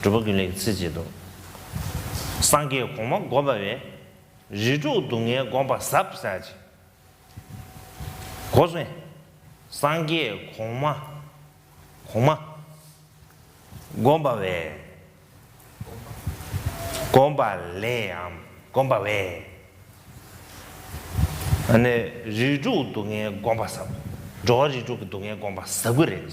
སྒྲུབ་པ་ཀུན་ལེགས་ཚིག་བཅད་དོ། སངས་རྒྱས་གོང་མ་སྒོམ་པ་བས། རིགས་དྲུག་སྡུག་བསྔལ་སྒོམ་པ་ཟབ་ས་ཅི། གོ། སངས་རྒྱས་གོང་མ། གོང་མ། སྒོམ་པ་བས། སྒོམ་པ་ལས་འམ་སྒོམ་པ་བས། རིགས་དྲུག་སྡུག་བསྔལ་སྒོམ་པ་ཟབ། འགྲོ་བ་རིགས་དྲུག་གི་སྡུག་བསྔལ་སྒོམ་པ་ཟབ་གི་རེད།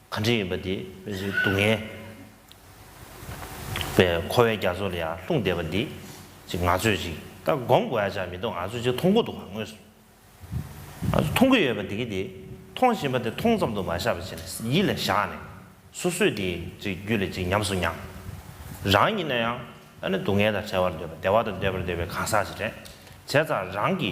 གང་དྲན་ཡོད་པ་འདི། སྡུག་བསྔལ་བའི་འཁོར་བའི་རྒྱ་མཚོ་ལ་ཡང་ལྷུང་བསྡད་པ་འདི། ཅིག་ང་ཚོས་ཅིག་ད་སྒོམ་དགོས་ཡ་ཆགས་མི་འདུག་ང་ཚོས་ཅིག་མཐོང་གི་འདུག་ངོས་སུ། ང་ཚོས་མཐོང་གི་ཡོད་པ་འདི་གི་འདི། མཐོང་བཞིན་པ་འདི་མཐོང་ཙམ་དུ་མ་བཞག་པ་ཅིག་ནས་ཡིད་ལ་བཞག་ནས། སོ་སོས་དེ་ཅིག་རྒྱུད་ལ་ཅིག་ཉམས་སུ་མྱང། རང་ཡིན་ན་ཡང། ད་ནི་སྡུག་བསྔལ་དང་བྲལ་བར་འདོད་པ་བདེ་བ་དང་འདྲེས་པར་འདོད་པའི་གང་ཟག་ཅིག་རེད། བྱས་ཙང་རང་གི།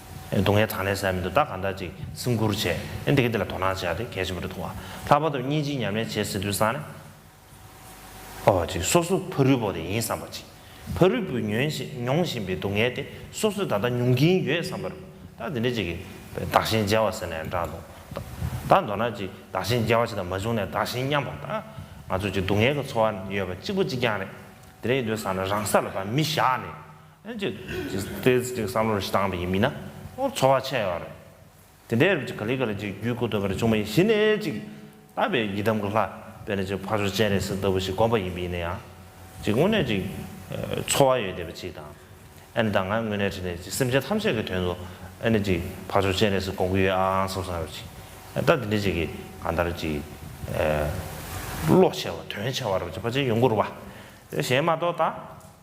སྡུག་བསྔལ་དང་ལེན་བསལ་མི་འདུག་བདག་གང་དག་ཅིག་སེམས་ཁུར་བྱས་ན་འདི་ག་འདི་ལ་དོ་སྣང་བྱས་ཏེ་གལ་ཆེན་པོ་འདི་མཐོང་བ། ལྷག་པར་དུ་གཉིས་ཅིག་ཉམས་ལེན་བྱེད་ཟེར་དུས་བསམ་ནས། ཨོ། ཅིག་སོ་སོ་ཕ་རུལ་པོ་དེ་ཡིན་བསམ་པ་ཅིག། ཕ་རུལ་པོས་མྱོང་བཞིན་པའི་སྡུག་བསྔལ་དེ་སོ་སོས་ད་ལྟ་མྱོང་གིན་ཡོད་བསམ་པར། ད་འདི་འདྲ་ཅིག་གིས་བདག་གཞན་བརྗེ་བ་ཟེར་ནས་འདྲ་འདུག། ད་མདོར་ན་ཅིག་བདག་གཞན་བརྗེ་བ་ཅིག་དང་མ་བྱུང་ནས་བདག་གཞན་མཉམ་པ་ད་ང་ཚོས་ཅིག་སྡུག་བསྔལ་གྱི་འཚོ་བ་ཡོད་པ་གཅིག་པོ་གཅིག་རྐྱང་རེད། དེ་རིང་འདོད་བསམ་ན་རང་ས་ལ་བ་མི་བཞག་ནས། ཅེས་དེ་ཅིག་བསམ་བློར་བཏང་བ་ཡིན་མིན་ན་ཁོང་ཚོར་བ་ཆད་ཡོད་རེད། དེ་འདྲའི་རིགས་ཀྱི་ག་ལེ་ག་ལེ་ཅིག་བརྒྱུད་བསྐུར་འདོད་པ་རེ་བྱུང་བ་ཡིན་གཞི་ནས་ཅིག་བསླབ་པའི་ཡི་དམ་གྱི་ལྷ་དཔེར་ན་ཅིག་ཕ་ཆོས་སྤྱན་རས་གཟིགས་ལྟ་བུ་ཞིག་དགོངས་པ་ཡིན་པ་ཡིན་ན་ཡང་ཅིག་དངོས་གནས་ཅིག་ཚོར་བ་ཡོད་བསྡད་པ་ཅིག་དང། ཨ་ནི་ད་ང་དངོས་གནས་ཁྲིད་ནས་ཅིག་སེམས་ཅན་ཐམས་ཅད་ཀྱི་དོན་དུ་ཨ་ནི་ཅིག་ཕ་ཆོས་སྤྱན་རས་གཟིགས་དགོངས་ཀྱི་ཡོད་ཨང་བསམ་བསམ་ཡོད་པ་ཅིག་ད་དེ་འདྲའི་ཅིག་གིས་གང་ལྟར་ཅིག་བློ་ཆེ་བ་དོན་ཆེ་བ་རེ་བྱེད་པ་ཅིག་ཡོང་དགོས་རུང་བ་རེ་གཞན་མ་གཏོགས་ད།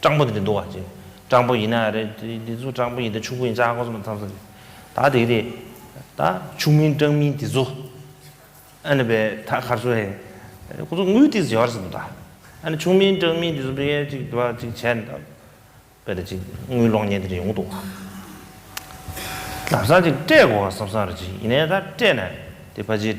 སྤྲང་པོ་དེ་འདྲ་འདུག་བ་ཅེས། སྤྲང་པོ་ཡིན་ན་རེད། དེ་ཚོ་སྤྲང་པོ་ཡིན་ད་ཕྱུག་པོ་ཡིན་ཙང་ཁོ་ཚོ་མ་ཚང་ས་རེད། ད་དེ་རེད། ད་ཕྱུག་མིན་སྤྲང་མིན་དེ་ཚོ། ཨ་ནི་བས་ད་གར་སོང་ཨེ། ཁོ་ཚོ་དངུལ་ཏིག་ཟེར་བར་སོང་ད། ཨ་ནི་ཕྱུག་མིན་སྤྲང་མིན་དེ་ཚོ་བེ་ཡས་ཅིག་བ་ཅིག་བྱས་ནས་ད། བེ་རེ་ཅིག་དངུལ་གློག་བརྙན་དེ་རེད་ཡོང་འདུག་བ། ལབ་ས་ཅིག་སྤྲད་དགོས་བ་བསམ་ས་རེད་ཅིག་ཡིན་ནས་ད་སྤྲད་ནས་དེ་བ་ཅིག།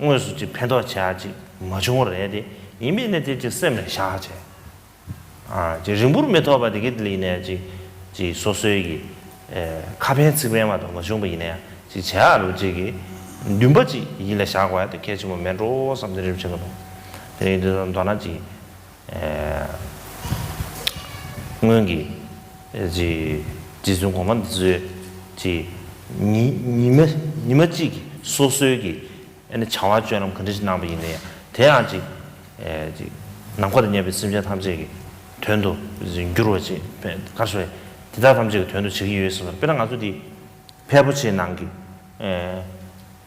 དངོས་སུ་ཅིག་ཕན་ཐོགས་བྱས་ཅིག་མ་བྱུང་བ་རེད་དེ། ཡིན་པས་ན་དེ་ཅིག་སེམས་ལ་བཞག་བྱས། ཅིག་རིང་པོར་མི་ཐོགས་པར་དེ་གའི་ལིས་ནས་ཅིག། ཅིག་སོ་སོའི་གི། ཁ་ཕན་ཚིག་ཕན་བ་དང་མ་བྱུང་པ་ཡིན་ན་ཡང་ཅིག་བྱས་ཨ་རོ་ཅིག་གི། འདུན་པ་ཅིག་ཡིད་ལ་བཞག་པ་ཡང་དེ་གལ་ཆེན་པོ་མེད་འགྲོ་བསམ་སྟེ་རེ་བྱེད་ཀྱི་འདུག་དེ་རིང་དེ་ཚོ་མདོར་ན་ཅིག། སྔོན་གྱི་རྗེ་བཙུན་གོང་མ་འདི་ཚོའི་ཉི་མ་གཅིག་གི་སོ་སོའི་ཀྱི་བྱ་བ་སྤྱོད་ལམ་གང་འདྲ་ཞིག་གནང་བ་ཡིན་ནའི་དེ་ཡང་ཅིག་ནམ་མཁའ་ལ་གནས་པའི་སེམས་ཅན་ཐམས་ཅད་ཀྱི་དོན་དུ་འགྱུར་བ་ཅིག་གར་སོང་བས་དེ་དག་ཐམས་ཅད་ཀྱི་དོན་དུ་བྱེད་ཀྱི་ཡོད་ཟེར་བ་དཔེར་ན་ང་ཚོ་འདི་ཕལ་པོ་ཆེའི་ནང་གི་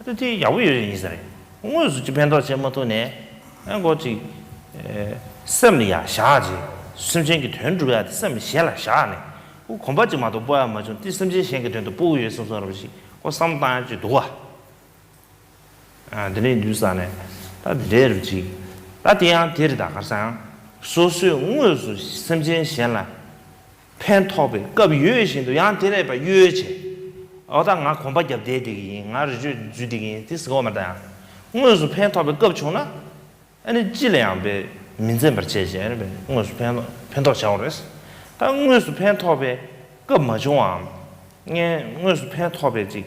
ཨ་ཏི་ཡག་པོ་ཡོད་རེད་ཡིན་ས་རེད། དངོས་སུ་ཅིག་ཕན་ཐོགས་བྱེད་མ་ཐུབ་ནས། ཨ་མགོ་ཅིག། སེམས་ལ་ཡ་བཞག་ཅིག། སེམས་ཅན་གྱི་དོན་སྒྲུབ་ཡག་དེ་སེམས་གཞན་ལ་བཞག་ནས། ཨོ་གོམ་པ་ཅིག་མ་གཏོགས་སྤོ་ཡག་མ་བྱུང་དེ་སེམས་ཅན་གཞན་གྱི་དོན་དུ་སྤོ་གི་ཡོད་སེམས་སོ་ར་བ་ཞིག་ཨོ་བསམ་བཏང་ཡག་ཅིག་འདུག་བ། ཨ་དེ་འདྲའི་འདུག་ས་ནས། ད་དེ་འདྲའི་རུ་ཅིག། ད་དེ་ཡང་དེ་རེད་ད་གར་ས་ཡང། སོ་སོས་དངོས་སུ་སེམས་ཅན་གཞན་ལ། ཕན་ཐོགས་པའི་སྐབས་ཡོད་བཞིན་དུ་ཡང་དེ་རེད་པ་གཡོལ་བྱས། འོ་ད་ང་གོམ་པ་བརྒྱབ་བསྡད་བསྡད་ཀྱི་ཡིན་ང་རེ་བཅོས་འཛུལ་བསྡད་ཀྱི་ཡིན་དེ་ཟེར་བ་མ་ད་ཡང་དངོས་སུ་ཕན་ཐོགས་པའི་སྐབས་བྱུང་ན་ཨ་ནི་ཅི་ལ་ཡང་བས་མི་འཛེམ་པར་བྱས་བྱས་པས་དངོས་སུ་ཕན་ཕན་ཐོགས་བྱའོ་རེད། ད་དངོས་སུ་ཕན་ཐོགས་པའི་སྐབས་མ་བྱུང་བའམ། ངས་དངོས་སུ་ཕན་ཐོགས་པའི་ཅིག་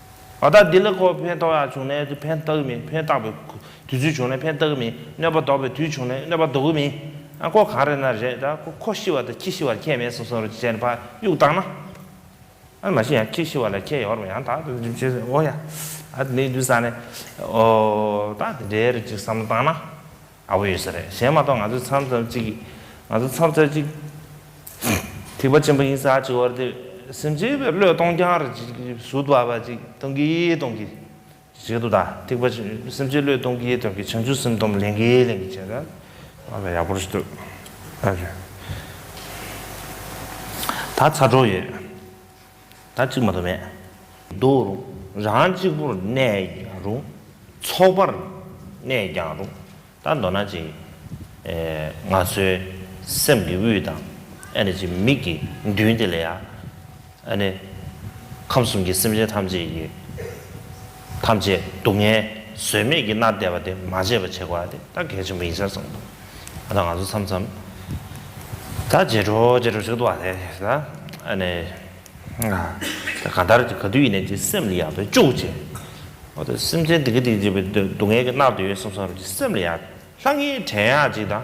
ད་ལྟ་ལྡི་ལི་ཁོ་ཕན་ཐོགས་ཡག་བྱུང་ནའི་དུས་ཕན་ལྟ་གི་མིན་ཕན་བཏགས་པའི་དུས་ཚོད་བྱུང་ནའི་ཕན་ལྟ་གི་མིན་གནོད་པ་ལྡོག་པའི་དུས་བྱུང་ནའི་གནོད་པ་ལྡོག་གི་མིན་ཨ་ཁོ་གང་རེད་ན་རེད་ད་ཁོ་ཤི་བ་དང་ཁྱི་ཤི་བར་ཁྱད་མེད་སོང་སོང་རེད་ཅེས་ནས་ཕ་གཡུག་བཏང་ན། ཨ་མ་ཤི་ཡང་ཁྱི་ཤི་བ་ལ་ཁྱད་ཡོད་རེད་མོད་ཡང་དག་འདི་བྱས་ཟིན་འོ་ཡ། ཨ་དེ་འདི་འདུག་བསམ་ནས་ཨོ་ད་དེ་འདྲའི་རེད་ཅེས་བསམ་བློ་བཏང་ན། ཨ་བོ་ཡོད་ས་རེད་གཞན་མ་གཏོགས་ང་ཚོའི་མཚམས་རྩ་གཅིག་ང་ཚོ་མཚམས་རྩ་གཅིག་ཐིགས་པ་ཆེན་པོ་ཡིན་ས་གཅིག་བར་དུ་སེམས་ཅན་པའི་བློས་གཏོང་རྐྱང་རེད་ཅིག་ཟུར་བ་བ་ཅིག་གཏོང་གི་གཏོང་གི་བྱེད་དོ་ད་ཐིགས་པ་སེམས་ཅན་བློས་གཏོང་གི་གཏོང་གི་བྱང་ཆུབ་སེམས་སྡོམ་ལེན་གི་ལེན་གི་བྱེད་ན། ཨ་བོ་ཡག་པོ་རེད་འདུག་ཨ་བོ། ད་ཚ་གྲོགས་ཡོད། ད་གཅིག་མ་དོ་མེད། འདུག་རུང། རང་གཅིག་པུར་གནས་ཀྱང་རུང། ཚོགས་པར་གནས་ཀྱང་རུང། ད་མདོར་ན་ཅིག། ང་ཚོའི་སེམས་ཀྱི་དབུས་དང། ཨ་ནི་ཅིག་མིག་གི་མདུན་དེ་ལ་ཡང། ཨ་ནི། ཁམས་གསུམ་གྱི་སེམས་ཅན་ཐམས་ཅད་ཀྱི། ཐམས་ཅད་སྡུག་བསྔལ་བཟོད་མེད་ཀྱིས་མནར་བསྡད་པ་དེ་མ་བརྗེད་པར་བྱེད་དགོས་པ་དེ་ད་གལ་ཆེན་པོ་ཡིན་ཟེར་སོང། ད་ང་ཚོ་མཚམས་མཚམས་ད་རྗེས་འགྲོ་རྗེས་འགྲོ་བྱེད་དགོས་པ་དེ་ད་ཨ་ནི་ད་གང་ལྟར་གྱི་ག་དུས་ཡིན་ནའི་ཀྱི་སེམས་ལ་ཡག་པའི་ཅུག་ཅེ་ཨོ་ད་སེམས་ཅན་དེ་གི་དེ་གི་བྱེད་པའི་སྡུག་བསྔལ་གྱིས་མནར་དུ་ཡོད་སོང་སོང་ར་གྱི་སེམས་ལ་ཡག་ལྷ་ངའི་བྲན་ཡག་ཅིག་དང།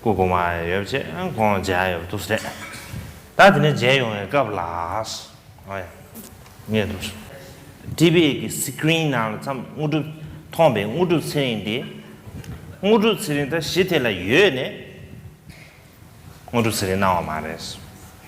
སྐུ་གོང་མ་ཡོད་ཅེས་ཁོང་མཇལ་ཡོང་དུ་ཟེར། ད་དེ་ནས་མཇལ་ཡོང་བའི་སྐབས་ལ། ངས་དུས་དཔེ་ཀྱི Screen ནང་ལ་འཚམས་དངོས་གྲུབ་མཐོང་པའི་དངོས་གྲུབ་ཚེ་རིང་དེ། དངོས་གྲུབ་ཚེ་རིང་ད་གཞི་དེ་ལ་ཡོད་ནས་དངོས་གྲུབ་ཚེ་རིང་གནང་བ་མ་རེད།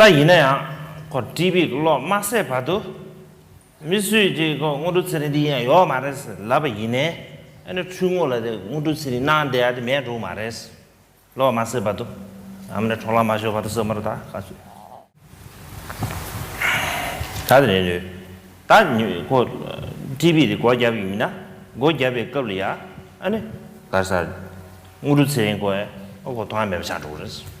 ལྟ་ཡིན་ན་ཡང་ཁོ་བཀྲིས་པའི་གློག་མ་སད་བར་དུ། མི་སུས་དེ་ཁོ་དངོས་གྲུབ་ཚེ་རིང་འདི་ཡིན་ཡང་ཡོད་མ་རེད་ཟེར་ལབ་པ་ཡིན་ནས། ཨ་ནེ་འཕྲུལ་དངོས་ལ་དེ་དངོས་གྲུབ་ཚེ་རིང་གནང་བསྡད་ཡ་དེ་མེད་འགྲོ་མ་རེད། གློག་མ་སད་བར་དུ། ཨམ་ནེ་འཕྲོག་ལག་མ་ཤོར་བར་དུ་ཟེར་མ་རེད་ད་ག་ཚོད། ད་དེ་རེད་འདོད། ད་ཁོ་བཀྲིས་པས་དེ་སྒོ་བརྒྱབ་ཡོད་མིན་ན། སྒོ་བརྒྱབ་པའི་སྐབས་ལ་ཡ་ཨ་ནེ། ག་ས། དངོས་གྲུབ་ཚེ་རིང་ཁོ་ཨ་ཁོ་ཐོག་ཨ་མེད་པ་ཆགས་འགྲོ་གི་རེད།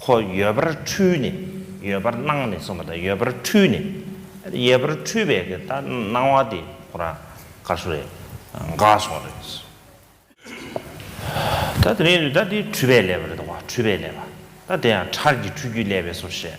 ཁོ་ཡོད་པར་འཁྲུལ་ནས་ཡོད་པར་སྣང་ནས་སོང་བ་དང་ཡོད་པར་འཁྲུལ་ནས་ཡོད་པར་འཁྲུལ་བའི་གི་ད་སྣང་བ་དེ་ཁོ་རང་ག་སོང་རེད་འགག་སོང་རེད། ད་དེ་རིང་ད་དེ་འཁྲུལ་པས་བསླད་པ་རེད་དོ་འཁྲུལ་པས་བསླད་པ་ད་དེ་ཡང་ཁྲར་གྱི་འཁྲུལ་རྒྱུས་བསླད་པས་སོ་ཞེས་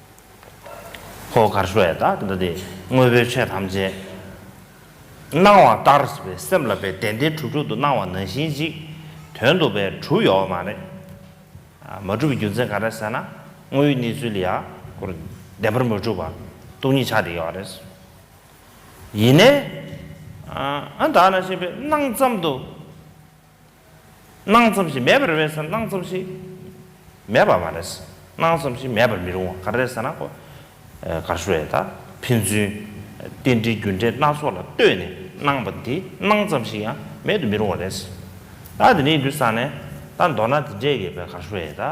ཧོ། གར་ཤོ་ཡ་དག་འདི་སྟེ་དངོས་པོའི་ཆོས་ཐམས་ཅད། སྣང་བ་ལྟར་བའི་སེམས་ལ་པའི་དན་ཏེ་དྲུག་དྲུག་ཏུ་སྣང་བ་ནང་བཞིན་གཅིག། དོན་དུ་པའི་དྲུག་ཡོད་མ་རེད། མ་གྲུབ་པའི་རྒྱུ་མཚན་ག་རེ་ཟེར་ན་དངོས་ཡོད་གནས་ཚུལ་ལ་ཡང་སྐོར་བདེན་པར་མ་གྲུབ་པ་སྟོང་ཉིད་ཆ་དེ་ཡོད་རེད། ཡིན་ནའི། ཨ་དག་ན་བཤད་པའི་སྣང་ཙམ་དུ། སྣང་ཙམ་ཞིག་མེད་པར་འོས་ཟེར་སྣང་ཙམ་ཞིག་མེད་པ་མ་རེད། སྣང་ཙམ་ཞིག་མེད་པར་མི་རུང་བ་ག་རེད་ཟེར་ན། ག་ཧྲུའེ་དང་ཕན་ཚུན་རྟེན་འབྲེལ་རྒྱུ་འབྲས་སྣ་ཚོགས་ལ་ལྟོས་ནས་སྣང་བ་འདི་སྣང་ཙམ་ཞིག་ཡང་མེད་དུ་མི་རུང་བ་རེད། ད་དེ་འདྲའི་འདུག་ས་ནས་ད་མདོར་ན་དེ་འདྲས་ཡོད་པའི་ག་ཧྲུའེ་དང།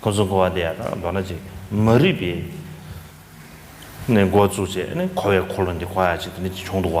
ཁོ་ཚོ་འགོ་བ་དེ་ཡང་ན་མདོ་ན་ཅིག་མ་རིག་པས་ནས་འགོ་བཙུགས་རྗེས་ནས་འཁོར་བའི་འཁོར་ལོ་འདི་གོ་ཡ་ཅིག་དེ་ནས་ཅིག་བྱུང་འདུག་བ།